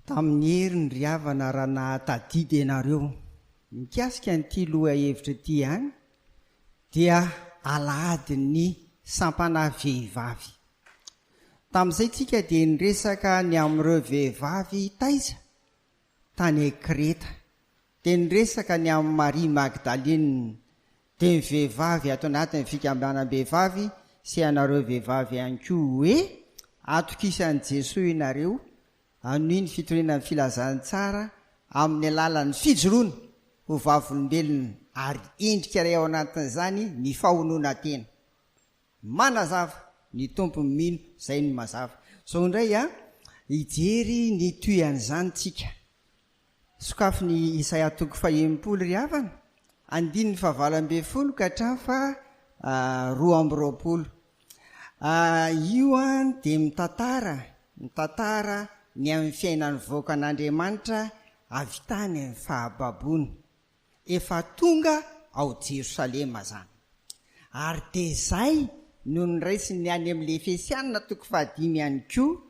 Tamin'ny heriny ry havana raha nahatadidy ianareo mikasika an'ity lohahevitra ity ihany dia alahadin'ny sampana vehivavy. Tamin'izay tsika dia niresaka ny amin'ireo vehivavy taiza? tany Kreta, dia niresaka ny amin'i Maria Magdalina, dia ny vehivavy ato anatin'ny fikambanam-behivavy sy ianareo vehivavy ihany koa hoe, Atokisan'i Jesoa ianareo, hanohy ny fitoriana ny filazantsara amin'ny alalan'ny fijoroana ho vavolombelona ary endrika iray ao anatin'izany ny fahonoana tena. Manazava, ny Tompo mino zay ny mazava. Zao indray a, hijery ny tohian'izany tsika. Sokafy ny Isaia toko fahenimpolo ry havana, andininy fahavalo ambin'ny folo ka hatramin'ny faha roa amby roapolo. Io a dia mitantara, mitantara ny amin'ny fiainan'ny vahoakan'Andriamanitra avy tany amin'ny fahababoana. Efa tonga ao Jerosalema zany. Ary dia izay no niraisiny ny any amin'ilay Efesianina toko fahadimy ihany koa,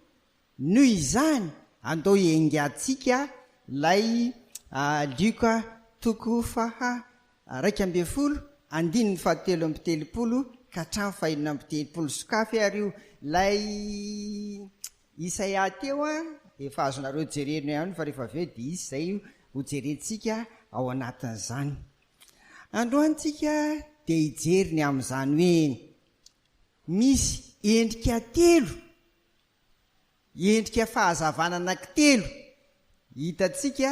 Noho izany, andao hiaingantsika ilay Lioka toko faha iraika ambin'ny folo andininy fahatelo amby telopolo ka hatramin'ny fahenina amby telopolo, sokafy ary io, ilay Isaia teo a, efa azonareo jerena ihany fa rehefa avy eo dia hisy izay ho jerentsika ao anatin'izany. Androany tsika dia hijery ny amin'izany hoe misy endrika telo, endrika fahazavana anankitelo hitantsika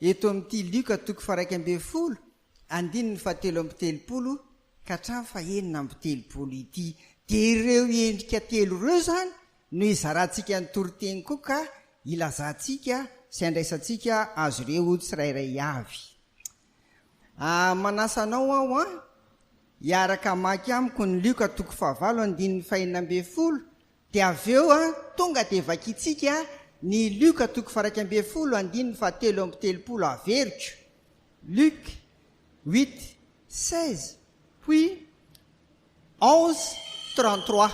eto amin'ity Lioka toko faha iraika ambin'ny folo Andininy fahatelo amby telopolo ka hatramin'ny fahenina amby telopolo ity. Dia ireo endrika telo ireo izany no hizarantsika ny toriteny koa ka hilazantsika sy handraisantsika azy ireo tsirairay avy. Manasa anao aho hiaraka hamaky amiko ny Lioka toko fahavalo andininy fahenina ambin'ny folo Dia avy eo tonga dia vakintsika ny Luc toko faha iraika ambin'ny folo andininy faha telo amby telopolo averiko, Luc huit seize puis onze trente trois,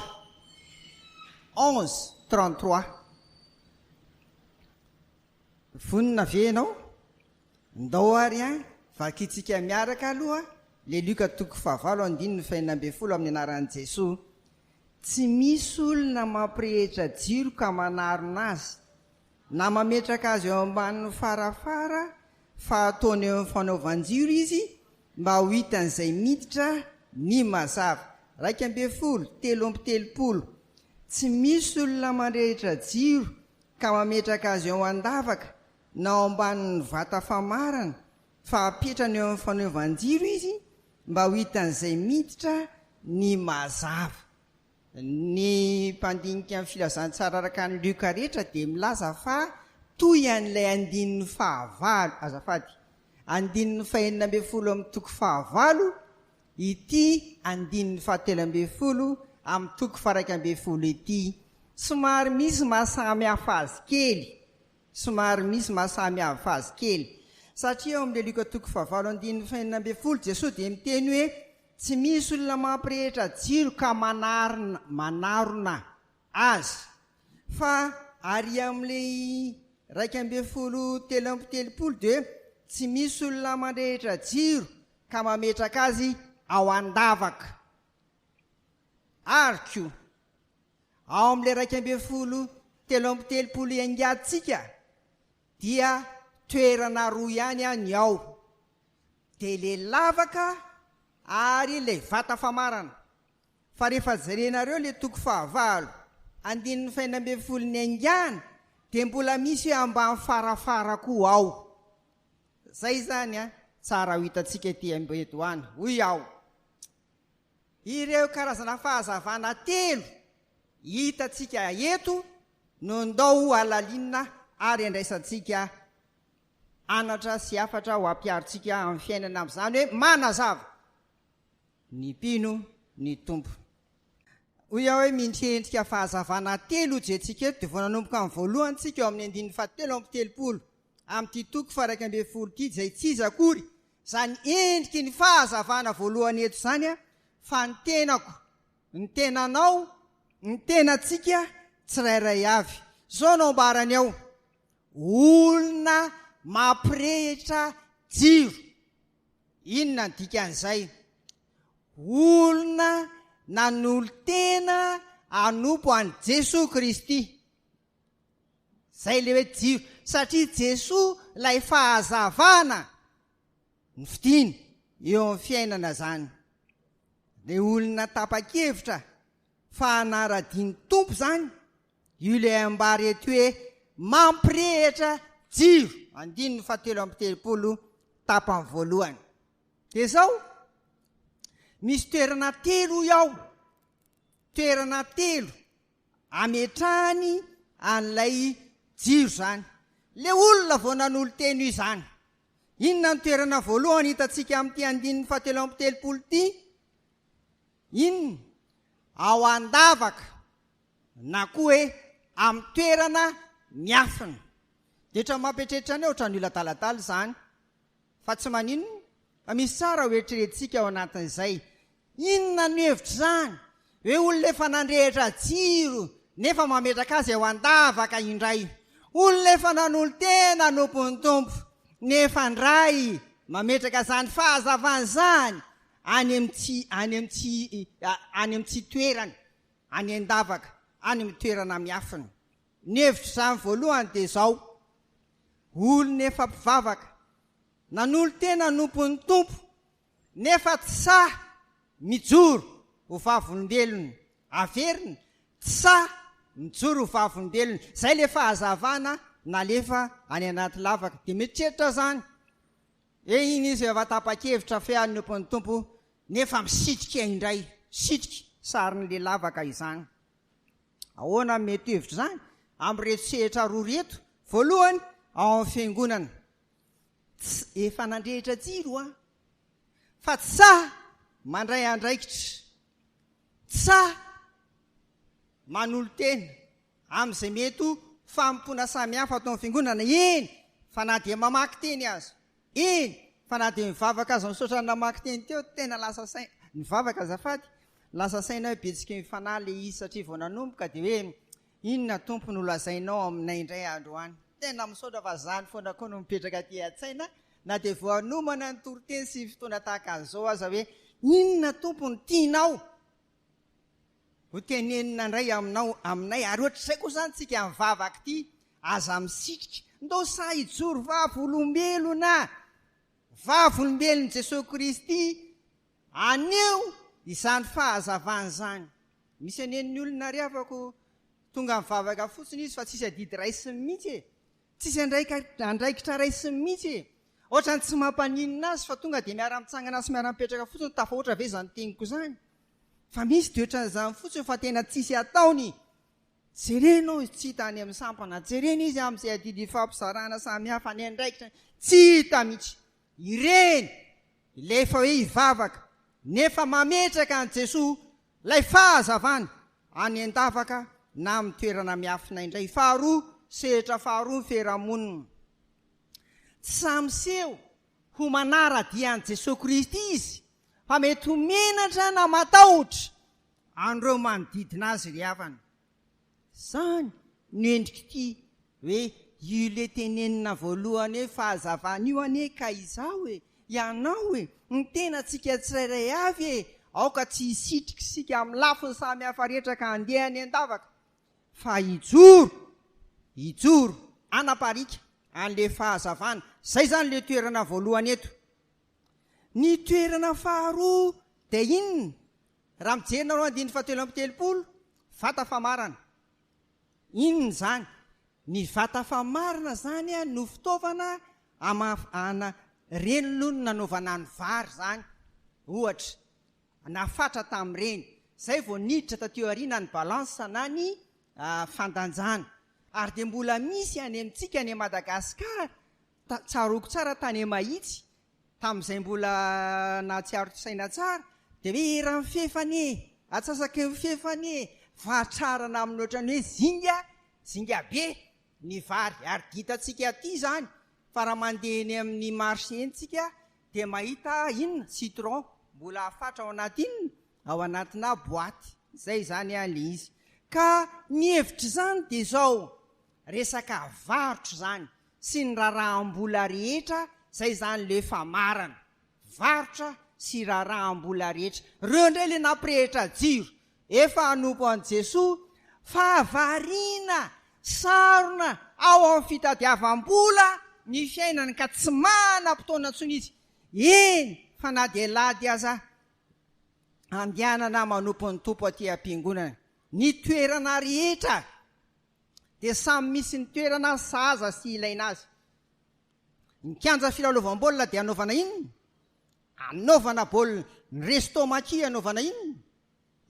onze trente trois. Vonona ve ianao? Ndao ary an, vakintsika miaraka aloha le Luc toko faha valo andininy faha enina ambin'ny folo amin'ny anaran'i Jesoa. Tsy misy olona mampirehetra jiro ka manarona azy, na mametraka azy eo ambanin'ny farafara fa ataony eo amin'ny fanaovan-jiro izy mba ho hitan'izay miditra ny mazava. Iraika ambin'ny folo, telo amby telopolo. Tsy misy olona mandrehitra jiro ka mametraka azy eo an-davaka na ao ambanin'ny vata famarana fa apetrany eo amin'ny fanaovan-jiro izy mba ho hitan'izay miditra ny mazava. Ny mpandinika ny Filazantsara araka an'i Lioka rehetra dia milaza fa toy an'ilay andininy fahavalo, azafady, andininy fahenina ambin'ny folo amin'ny toko fahavalo, ity andininy fahatelo ambin'ny folo amin'ny toko faha-iraika ambin'ny folo ity. Somary misy maha samy hafa azy kely Somary misy maha samy hafa azy kely, satria ao amin'ilay Lioka toko fahavalo andininy fahenina ambin'ny folo, Jesoa dia miteny hoe, Tsy misy olona mampirehitra jiro ka manarina, manarona, azy, fa ary amin'ilay iraika ambin'ny folo telo amby telopolo dia hoe, Tsy misy olona mandrehitra jiro ka mametraka azy ao an-davaka. Ary koa, ao amin'ilay iraika ambin'ny folo telo amby telopolo iangatsika dia toerana roa ihany an ny ao, dia ilay lavaka ary ilay vata famarana, fa rehefa jerenareo ilay toko fahavalo andininy fahenina ambin'ny folo niaingàna dia mbola misy hoe ambany farafara koa ao. Izay izany an, tsara ho hitantsika ety amboedo any, hoy aho. Ireo karazana fahazavana telo hitantsika eto no ndao hohalalinina ary andraisantsika anatra sy hafatra ho ampiharintsika amin'ny fiainana amin'izany hoe manazava ny mpino ny Tompo. Hoy aho hoe mindrika endrika fahazavana telo hojerentsika eto dia vao nanomboka amin'ny voalohany tsika ao amin'ny andininy fahatelo amby telopolo amin'ity toko faha iraika ambin'ny folo ity izay tsy iza akory Izany endriky ny fahazavana voalohany eto izany fa ny tenako, ny tenanao, ny tenantsika tsirairay avy. Izao no ambarany ao, olona mampirehitra jiro. Inona ny dikan'izay? Olona nanolo-tena hanompo an'i Jesoa Kristy. Zay le hoe jiro satria Jesoa lay fahazavana ny fidiny eo amin'ny fiainana zany le olona tapakevitra fa hanara-diny Tompo zany io le ambara eto hoe mampirehitra jiro andininy faha telo amby telopolo tapany voalohany de zao misy toerana telo hoy aho toerana telo ametrahany an'ilay jiro izany. Ilay olona vao nanolo-tena io izany. Inona no toerana voalohany hitantsika amin'ity andininy fahatelo amby telopolo ity? Inona? Ao an-davaka na koa hoe amin'ny toerana miafina. Dia ohatran'ny mampieritreritra anay, ohatran'ny olona adaladala izany. Fa tsy maninona fa misy tsara ho eritreretintsika ao anatin'izay. Inona no hevitr'izany hoe olona efa nandrehitra jiro nefa mametraka azy eo an-davaka indray? Olona efa nanolo-tena hanompo ny Tompo nefa indray mametraka izany fahazavana izany any amin'ny tsy, any amin'ny tsy, any amin'ny tsy toerany, any an-davaka, any amin'ny toerana miafina. Ny hevitro izany voalohany dia izao, olona efa mpivavaka, nanolo-tena hanompo ny Tompo nefa tsy sahy mijoro ho vavolombelony, averina, tsy sahy mijoro ho vavolombelony, izay ilay fahazavana nalefa any anaty lavaka, dia mieritreritra izany hoe iny izy efa tapa-kevitra fe hanompo ny Tompo nefa misitrika indray, misitrika sarin'ilay lavaka izany. Ahoana ny mety hevitr' izany amin'ireto sehatra roa ireto? Voalohany, ao amin'ny Fiangonana. Ts, efa nandrehitra jiro hoa. Fa ts, mandray andraikitra. Ts, manolo-tena amin'izay mety ho fanompoana samihafa ato amin'ny Fiangonana. Eny, fa na dia mamaky teny aza. Eny fa na dia nivavaka aza misaotra ny namaky teny teo tena lasa saina nivavaka azafady lasa saina hoe betsiky ny fanahy le izy satria vao nanomboka dia hoe inona tompo no lazainao aminay indray androany tena misaotra fa zany foana koa no mipetraka aty atsaina na dia vao anomana ny toriteny sy fotoana tahaka an'izao aza hoe inona tompo ny tianao Ho tenenina indray aminao, aminay, ary ohatr'izay koa izany tsika mivavaka ity, aza misitrika, ndao sahy hijoro vavolombelona, vavolombelon'i Jesoa Kristy, aneho izany fahazavana izany. Misy anen'ny olona ry havako, tonga mivavaka fotsiny izy fa tsisy adidy raisiny mihitsy e! Tsisy andraikitra raisiny mihitsy e! Ohatrany tsy mampaninona azy fa tonga dia miara-mitsangana sy miara-mipetraka fotsiny, tafahoatra ve izany teniko izany? Fa misy dia ohatran'izany fotsiny fa tena tsisy ataony! Jerena hozy tsy hita any amin'ny sampana, jerena izy amin'izay adidy ifampizarana samihafa, ny andraikitra tsy hita mihitsy! Ireny ilay efa hoe hivavaka nefa mametraka an'i Jesoa ilay fahazavany any an-davaka na amin'ny toerana miafina indray. Faharoa, sehatra faharoa ny fiarahamonina. Tsy sahy miseho ho manara-dia an'i Jesoa Kristy izy fa mety ho menatra na matahotra an'ireo manodidina azy ry havana. Izany no endrik'ity hoe yule tenenina voalohany hoe fahazavana io anie ka izaho e, ianao e, ny tenantsika tsirairay avy e, aoka tsy hisitrika isika amin'ny lafiny samy hafa rehetra ka handeha any an-davaka fa hijoro, hijoro hanapariaka an'ilay fahazavana. Izay izany ilay toerana voalohany eto. Ny toerana faharoa dia inona? Raha mijery nareo andininy fahatelo amby telopolo, vata famarana. Inona izany? Ny vata famarana izany no fitaovana amafana, ireny aloha no nanaovana ny vary izany ohatra, na fatra tamin'ireny. Izay vao niditra taty aoriana ny balance na ny fandanjana. Ary dia mbola misy any amintsika any Madagasikara Tsaroako tsara tany Mahitsy, tamin'izay mbola nahatsiaro saina tsara, dia hoe eran'ny fefy anie, atsasaky ny fefy anie, fahatrarana amin'ny ohatran'ny hoe zinga, zinga be ny vary. Ary dia hitantsika aty izany fa raha mandeha eny amin'ny marché eny isika dia mahita inona, citron mbola afatra ao anaty inona, ao anatinà boaty. Izay izany ilay izy. Ka ny hevitr'izany dia izao, Resaka varotra izany sy ny raharaham-bola rehetra izay izany le efa marana. Varotra sy raharaham-bola rehetra. Reo indray le nampirehitra jiro. Efa hanompo an'i Jesoa fa variana, sarona ao amin'ny fitadiavam-bola ny fiainany ka tsy manam-potoana intsony izy. Eny fa na dia lady aza andehanana manompo ny Tompo aty am-piangonana. Ny toerana rehetra dia samy misy ny toerana sahaza sy ilaina azy. Ny kianja filalaovam-baolina dia anaovana inona? Anaovana baolina. Ny resto maki anaovana inona?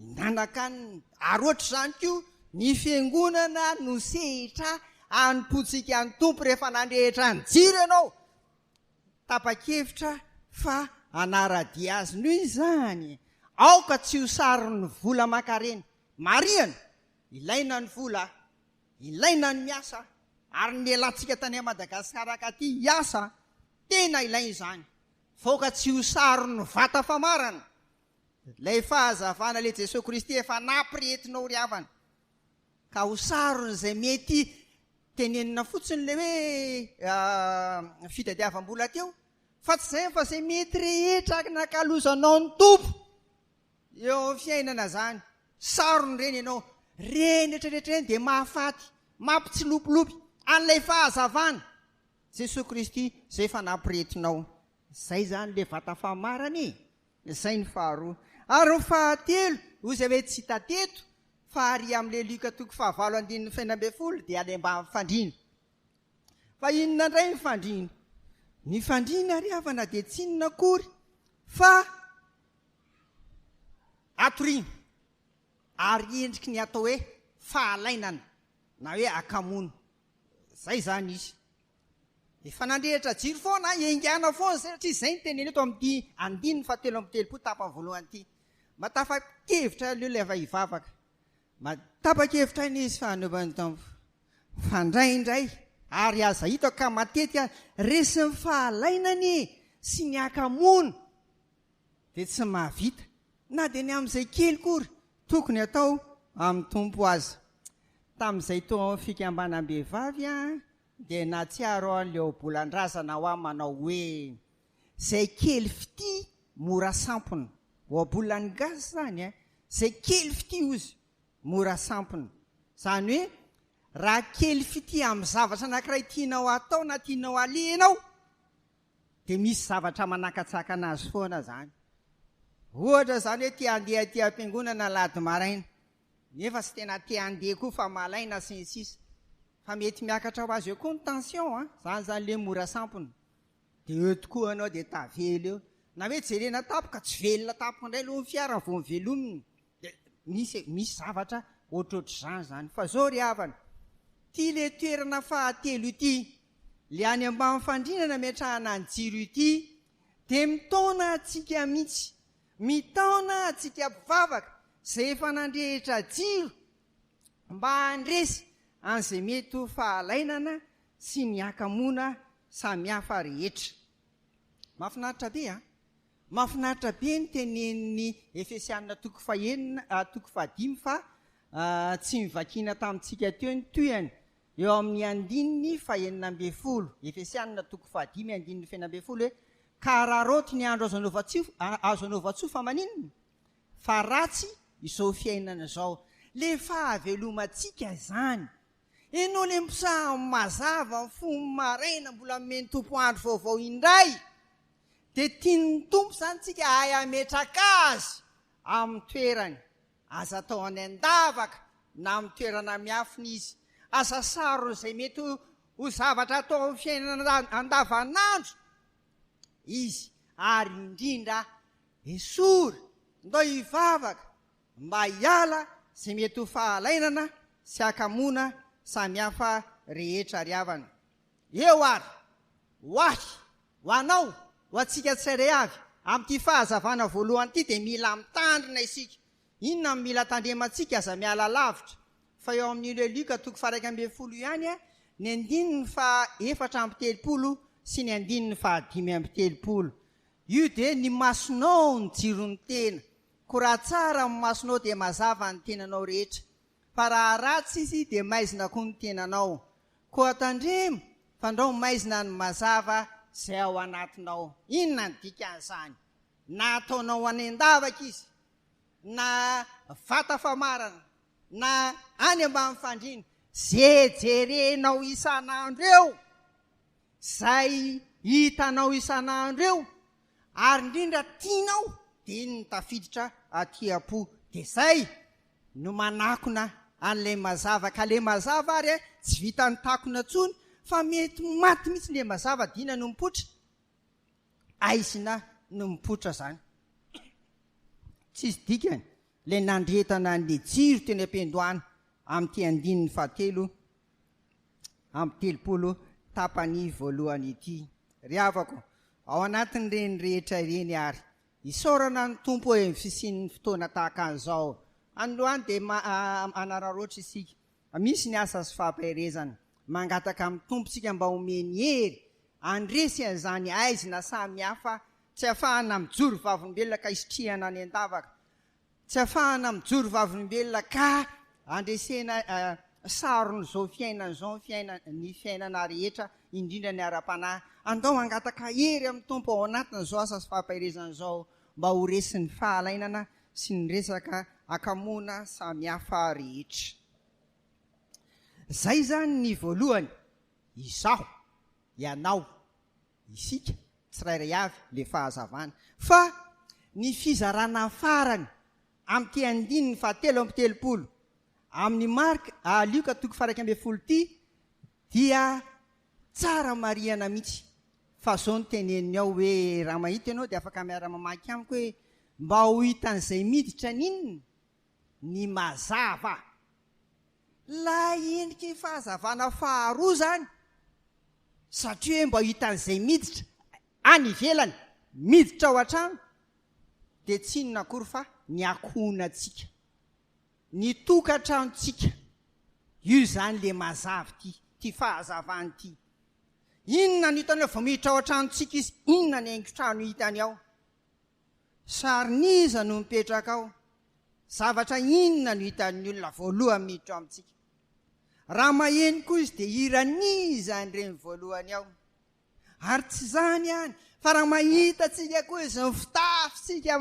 Hihinan-kanina. Ary ohatr'izany koa ny fiangonana no sehitra hanompoantsika ny Tompo rehefa nandrehitra ny jiro ianao. Tapa-kevitra fa hanara-dia azy. Noho izany, aoka tsy ho saron'ny vola aman-karena. Marihana Ilaina ny vola, ilaina ny miasa ary ny lehilahintsika tany Madagascar ankaty hiasa, tena ilaina izany faoka tsy ho saron'ny vata famarana lay fahazavana lay Jesoa Kristy efa naprientinao ry havana ka ho saron'ny zay mety tenenina fotsiny le hoe fitadiavam-bola teo fa tsy zay fa zay mety rehetra nakalozanao ny Tompo Eo amin'ny fiainana zany. Sarony reny ianao. Reny retraretra reny dia mahafaty, mampitsilopilopy, an'ilay fahazavana. Jesoa Kristy zay efa nampirehetinao. Zay zany le vata famarana e. Zay ny faharoa. Ary ny fahatelo, hoy zay hoe tsy hita teto, fa ary amin'ilay Lioka toko fahavalo andininy fahenina ambin'ny folo dia any ambany fandriana. Fa inona indray ny fandriana? Ny fandriana ry havana dia tsy inona akory fa hatoriana ary endriky ny atao hoe fahalainana na hoe akamoana. Izay izany izy. Efa nandrehitra jiro foana, engana foana satria izay ny teniny eto amin'ity andininy fahatelo amby telopolo tapany voalohany ity. Mba tapa-kevitra aloha ilay vehivavaka. Mba tapa-kevitra anie izy fa anaovan'ny Tompo. Fa indraindray ary aza hitako ka matetika resin'ny fahalainany sy ny haka-moana dia tsy mahavita na dia ny amin'izay kely kory tokony atao amin'ny Tompo aza. Tamin'izay teo amin'ny fikambanam-behivavy aho dia nahatsiaro aho ilay ohabolan-drazana ao aho manao hoe, Izay kely fitia mora sampona. Ohabolan'ny gasy izany e! Izay kely fitia hozy mora sampona. Izany hoe, raha kely fitia amin'ny zavatra anankiray tianao hatao na tianao haleha ianao, dia misy zavatra manakatsakana azy foana izany. Ohatra izany hoe te handeha aty am-piangonana alahady maraina, nefa tsy tena te handeha koa fa malaina sy ny sisa. Fa mety miakatra ho azy eo koa ny tension an, izany izany ilay mora sampona. Dia eo tokoa ianao dia tavela eo. Na hoe jerena tampoka, tsy velona tampoka indray aloha ny fiara vao mivelomina. Dia misy e, misy zavatra ohatrohatr'izany izany. Fa izao ry havana, ity ilay toerana fahatelo ity, ilay any ambany fandriana nametrahana ny jiro ity, dia mitaona antsika mihitsy. Mitaona antsika mpivavaka izay efa nandrehitra jiro mba handresy an'izay mety ho fahalainana sy ny hakamoana samihafa rehetra. Mahafinaritra be an! Mahafinaritra be ny tenenin'ny Efesiana toko fahenina toko fahadimy fa tsy novakiana tamintsika teo ny tohiny eo amin'ny andininy fahenina ambin'ny folo, Efesiana toko fahadimy andininy fahenina ambin'ny folo hoe ka araraoty ny andro azo anaovan-tsoa, azo anaovan-tsoa fa maninona? Fa ratsy izao fiainana izao. Le fahavelomantsika izany. Henoiny ny psalmes mazava ny fony maraina mbola nomen'ny Tompo andro vaovao indray dia tian'ny Tompo izany tsika hahay hametraka Azy amin'ny toerany aza atao any an-davaka na amin'ny toerana miafina Izy aza sarona izay mety ho zavatra atao amin'ny fiainana andavanandro Izy ary indrindra esory ndao hivavaka mba hiala ze mety ho fahalainana sy hakamoana samihafa rehetra ry havana. Eo ary, ho ahy, ho anao, ho antsika tsirairay avy, amin'ity fahazavana voalohany ity dia mila mitandrina isika. Inona no mila tandremantsika? Aza miala lavitra fa eo amin'ny Le Luc toko faha iraika ambin'ny folo ihany ny andininy faha efatra amby telopolo sy ny andininy faha dimy amby telopolo. Io dia ny masonao no jiron'ny tena. Ko raha tsara ny masonao dia mazava ny tenanao rehetra, fa raha ratsy izy dia maizina koa ny tenanao. Koa tandremo, fandrao maizina ny mazava izay ao anatinao. Inona ny dikan'izany? Na ataonao any an-davaka izy, na vata famarana, na any ambany fandriana, ze jerenao isan'andro eo, izay hitanao isan'andro eo, ary indrindra tianao dia iny no tafiditra aty am-po dia zay no manakona an'ilay mazava ka ilay mazava ary eh tsy vitan'ny takona intsony fa mety maty mihitsy ilay mazava dia inona no mipoitra aizina no mipoitra zany tsisy dikany ilay nandretana an'ilay jiro teny am-piandohana amin'ity andininy fahatelo amin'ny telopolo tapany voalohany ity. Ry havako, ao anatin'ireny rehetra ireny ary, isaorana ny Tompo eo amin'ny fisian'ny fotoana tahaka an'izao. Androany dia manararaotra isika, misy ny asa sy fampaherezana. Mangataka amin'ny Tompo isika mba homeny hery handresy an'izany haizina samihafa tsy ahafahana mijoro vavolombelona ka hisitrihana any an-davaka. Tsy afahana mijoro vavolombelona ka andresena sarony izao fiainana izao, ny fiainana rehetra indrindra ny ara-panahy. Andao hangataka hery amin'ny Tompo ao anatin'izao asa sy fampaherezana izao mba ho resin'ny fahalainana sy ny resaka akamoana samihafa rehetra. Izay izany ny voalohany, izaho, ianao, isika tsirairay avy le fahazavana fa ny fizarana farany amin'ity andininy fahatelo amby telopolo amin'ny marka ah lioka toko faha iraika ambin'ny folo ity dia tsara marihana mihitsy fa zao ny teneniny ao hoe raha mahita ianao dia afaka miara mamaky amiko hoe mba ho hitan'izay miditra n'inona ny mazava Ilay endrika iny fahazavana faharoa izany satria hoe mba hitan'izay miditra any ivelany miditra ao an-trano dia tsy inona akory fa ny ankohonantsika, ny tokantranontsika, io izany ilay mazava ity, ity fahazavana ity. Inona no hitany hoe vao miditra ao an-tranontsika izy, inona ny haingon-trano hitany ao? Sarin'iza no mipetraka ao? Zavatra inona no hitan'ny olona voalohany miditra ao amintsika? Raha maheno koa izy dia hiran'iza ny reny voalohany ao? Ary tsy izany ihany fa raha mahita antsika koa izy ny fitafintsika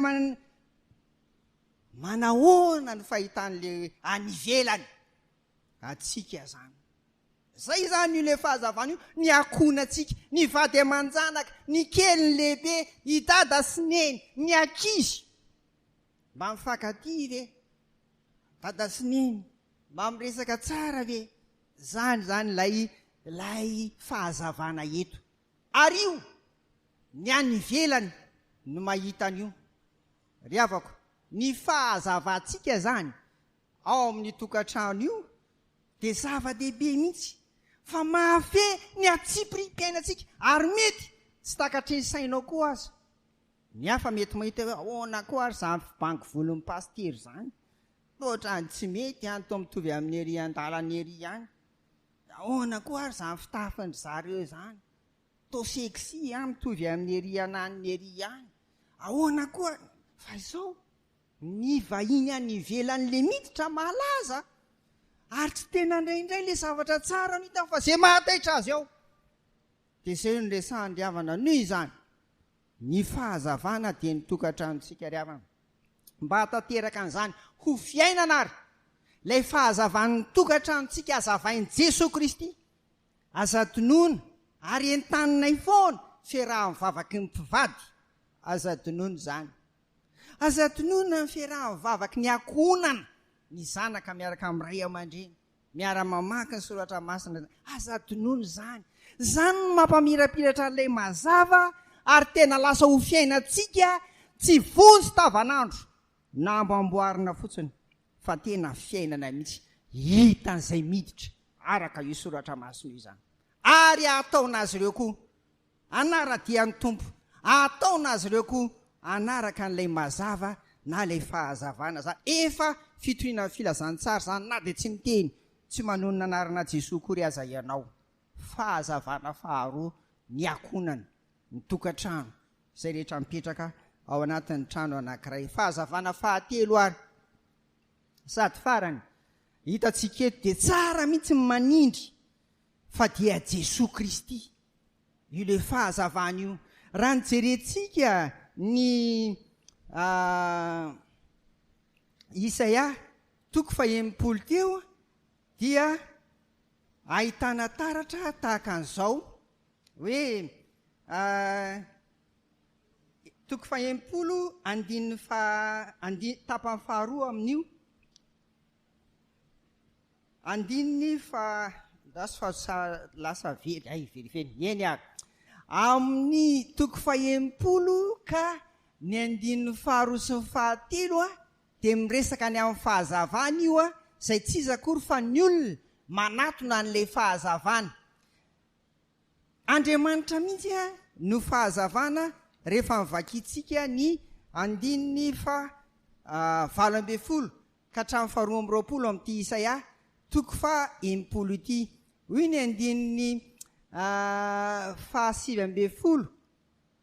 manahoana no fahitan'ilay any ivelany? antsika zany. Zay zany io le fahazavana io, ny ankohonantsika, ny vady aman-janaka, ny kely, ny lehibe, i dada sy neny, ny ankizy. Mba mifankatia ve? Dada sy neny, mba miresaka tsara ve? Zany zany lay lay fahazavana eto. Ary io, ny any ivelany no mahita an'io. Ry havako, ny fahazavantsika zany ao amin'ny tokantrano io dia zava-dehibe mihitsy fa mahafehy ny hatsipiriam-piainantsika ary mety tsy takatry ny sainao koa aza. Ny hafa mety mahita hoe ahoana koa ary izany fibango volon'ny pasitera izany, toa ohatran'ny tsy mety an, toa mitovy amin'i ery an-dalana ery ihany, dia ahoana koa ary izany fitafin-dry zareo izany, toa sexy an, mitovy amin'i ery ananiny ery ihany, ahoana koa fa izao. Ny vahiny any ivelany le miditra malaza ary tsy te nandray indray le zavatra tsara no hitany fa ze mahataitra azy ao de zay no resahany ry havana noho izany ny fahazavana de ny tokatranontsika ry havana mba hatateraka an'izany ho fiainana ary lay fahazavan'ny tokatranontsika hazavain'i Jesoa Kristy aza dinoina ary entaninay foana ferahan'ny vavaky ny mpivady aza dinoina izany Aza tononina ny fiarahan'ny vavaky ny ankohonana, ny zanaka miaraka amin'ny ray aman-dreny, miara-mamaky ny soratra masina, aza tononina izany. Izany no mampamirapiratra an'ilay mazava ary tena lasa ho fiainantsika tsy vonjy tavanandro na mba amboarina fotsiny fa tena fiainana mihitsy hitan'izay miditra araka io soratra masina io izany ary ataon'azy ireo koa Hanara-dian'ny Tompo. Hahataona azy ireo koa hanaraka an'ilay mazava na ilay fahazavana za. Efa fitoriana ny filazantsara izany na dia tsy miteny, tsy manonona anarana Jesoa akory aza ianao. Fahazavana faharoa ny akonany, ny tokantrano, izay rehetra mipetraka ao anatin'ny trano anankiray. Fahazavana fahatelo ary sady farany hitantsika eto dia tsara mihitsy ny manindry Fa dia Jesoa Kristy. Io le fahazavana io. Raha ny jerentsika ny Isaia toko fahenimpolo teo dia ahitana taratra tahaka an'izao hoe toko fahenimpolo andininy faha tapany faharoa amin'io Andininy fa ndaso fa sa lasa very hay verivery ny eny ary amin'ny toko fahenimpolo ka ny andininy faharoa sy ny fahatelo dia miresaka ny amin'ny fahazavana io izay tsy iza akory fa ny olona manatona an'ilay fahazavana Andriamanitra mihitsy no fahazavana rehefa vakintsika ny andininy faha valo ambin'ny folo ka hatramin'ny faharoa amby roapolo amin'ity Isaia toko faha enimpolo ity. Hoy ny andininy faha sivy ambin'ny folo,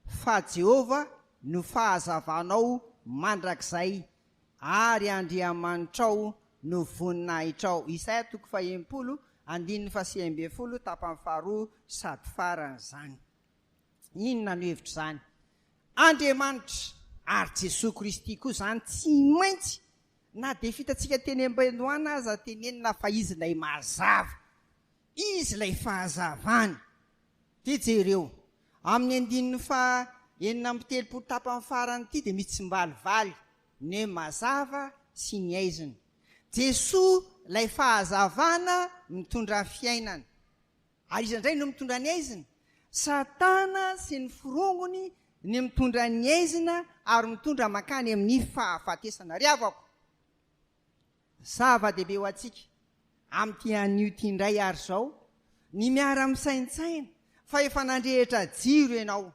Fa Jehovah no fahazavanao mandrakizay, ary Andriamanitrao no voninahitrao. Isaia toko faha enimpolo, andininy faha sivy ambin'ny folo, tapany faharoa sady faran'izany. Inona no hevitr'izany? Andriamanitra ary Jesoa Kristy koa izany tsy maintsy na dia fitantsika teny am-benoana aza tenenina fa Izy ilay mazava, Izy ilay fahazavana. Dia jereo, amin'ny andininy faha enina amby telopolo tapany farany ity dia mitsimbalivaly ny mazava sy ny aizina. Jesoa ilay fahazavana mitondra fiainana. Aiza indray no mitondra ny aizina? Satana sy ny forongony ny mitondra ny aizina ary mitondra mankany amin'ny fahafatesana. Ry havako, zava-dehibe ho antsika amin'ity anio ity indray àry izao ny miara-misaintsaina fa efa nandrehitra jiro ianao.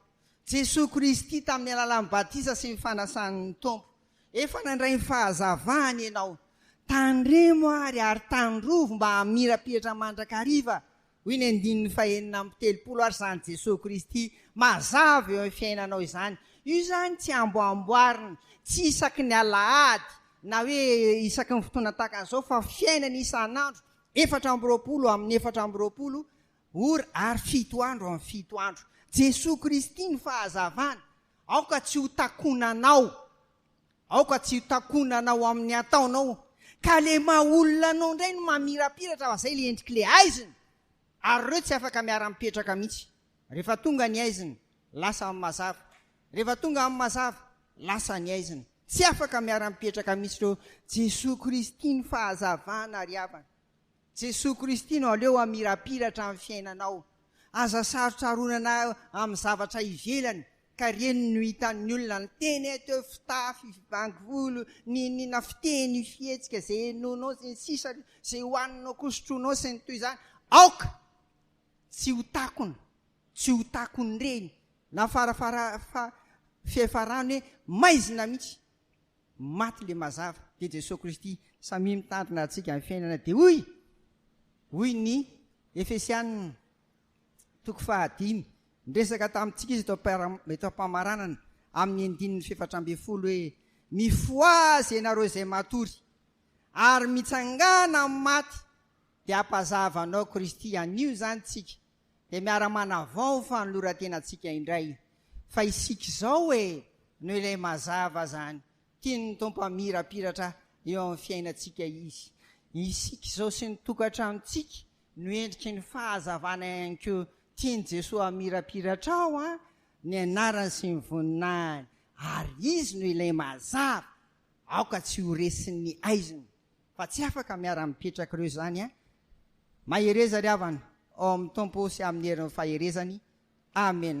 Jesoa Kristy tamin'ny alalan'ny batisa sy ny fanasan'ny Tompo Efa nandray ny fahazavany ianao. Tandremo ary, ary tandrovy mba hamirapiratra mandrakariva, hoy ny andininy fahenina amby telopolo, ary izany Jesoa Kristy mazava eo amin'ny fiainanao izany. Io izany tsy amboamboarina, tsy isaky ny alahady, na hoe isaky ny fotoana tahaka an'izao, fa fiainana isan'andro, efatra amby roapolo amin'ny efatra amby roapolo ora, ary fito andro amin'ny fito andro. Jesoa Kristy ny fahazavana, Aoka tsy ho takona anao, aoka tsy ho takona anao amin'ny ataonao, ka le maha olona anao indray no mamirapiratra fa zay le endriky le haizina, ary reo tsy afaka miara mipetraka mihitsy, refa tonga ny haizina lasa amin'ny mazava, refa tonga amin'ny mazava lasa ny haizina, tsy afaka miara mipetraka mihitsy reo, Jesoa Kristy ny fahazavana ry havana. Jesoa Kristy no aleo hamirapiratra amin'ny fiainanao. Aza sarotsaronana amin'ny zavatra ivelany ka reny no hitan'ny olona ny teny eto, fitafy, fibango volo, n'inon'inona, fiteny, fihetsika, izay henoinao sy ny sisa, izay hohaninao koa, sotroinao sy ny toy izany. Aoka tsy ho takona, tsy ho takon'ireny na fara fara fa fihafarany hoe maizina mihitsy. Maty le mazava de Jesoa Kristy samia mitandrina antsika am fiainana de hoy hoy ny Efesianina toko faha dimy niresaka tamintsika izy eto eto ampamaranana amin'ny andininy fefatra ambin'ny folo hoe mifoazy ianareo izay matory ary mitsangana amin'ny maty de ampazavanao Kristy anio izany tsika Dia miara manavao fanolorantenantsika indray fa isika izao e no ilay mazava zany tian'ny Tompo hamirapiratra eo amin'ny fiainantsika izy. Isika izao sy ny tokantranontsika no endriky ny fahazavana ihany koa tian'i Jesoa hamirapiratra ao an ny anarany sy ny voninahiny ary izy no ilay mazava aoka tsy ho resin'ny haizina. Fa tsy afaka miara mipetraka ireo izany an! Mahereza ry havana ao amin'ny Tompo sy amin'ny herin'ny faherezany. Amen.